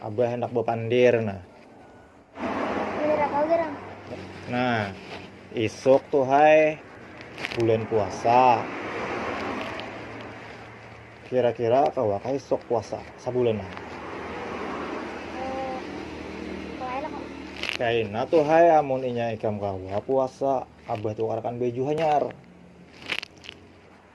Abah handak bapandir nah. Nah, isuk tuh hai bulan puasa. Kira-kira kawa ka isuk puasa sabulan nah. Kaina tuh hai amun inya ikam kawa puasa, abah tukarakan baju hanyar.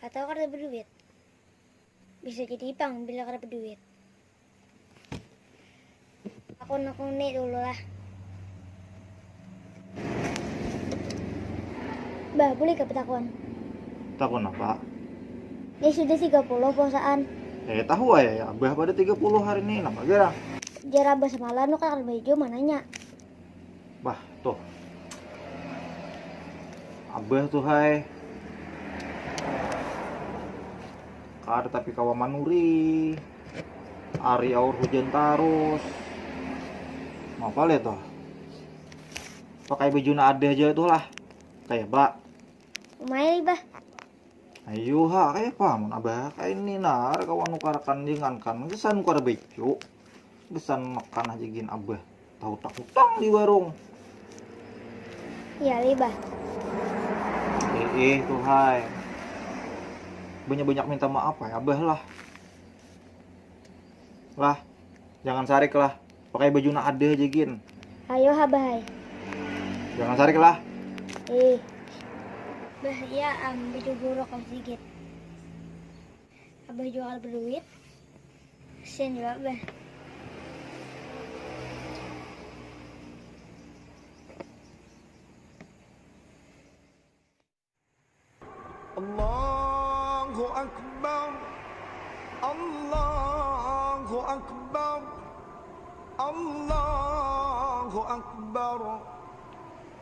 Atawa kada baduit. Bisa jadi ipang bila kada baduit. Aku nekuni dulu lah. Bah, boleh kah betakun? Takun apa? Ini sudah 30 puasaan. Eh, tahu ayah ya. Abah pada 30 hari ini. Nama gara? Jar abah semalam lu kan ada baju mananya. Bah tuh. Abah tuh hai. Kada tapi kawa manuri. Ari aur hujan tarus. Apa lihat tuh? Pakai baju na ada aja tuh lah. Kayak bak. Umai bah. Ayo ha kayak apa mun abah kayak ini nar kawan nukarakan jangan kan kesan nukar baju. Besan makan aja gin abah. Tahu tak utang di warung. Iya libah. Eh, eh tuh hai. Banyak-banyak minta maaf ya abah lah. Lah, jangan sarik lah. Pakai baju nak ada aja gin. Ayo abah hai. Jangan sarik lah. Eh. Bah iya am baju buruk aja gin. Abah jua kada baduit. Kasian jua Abah. Allahu Akbar Allahu Akbar Allahu Akbar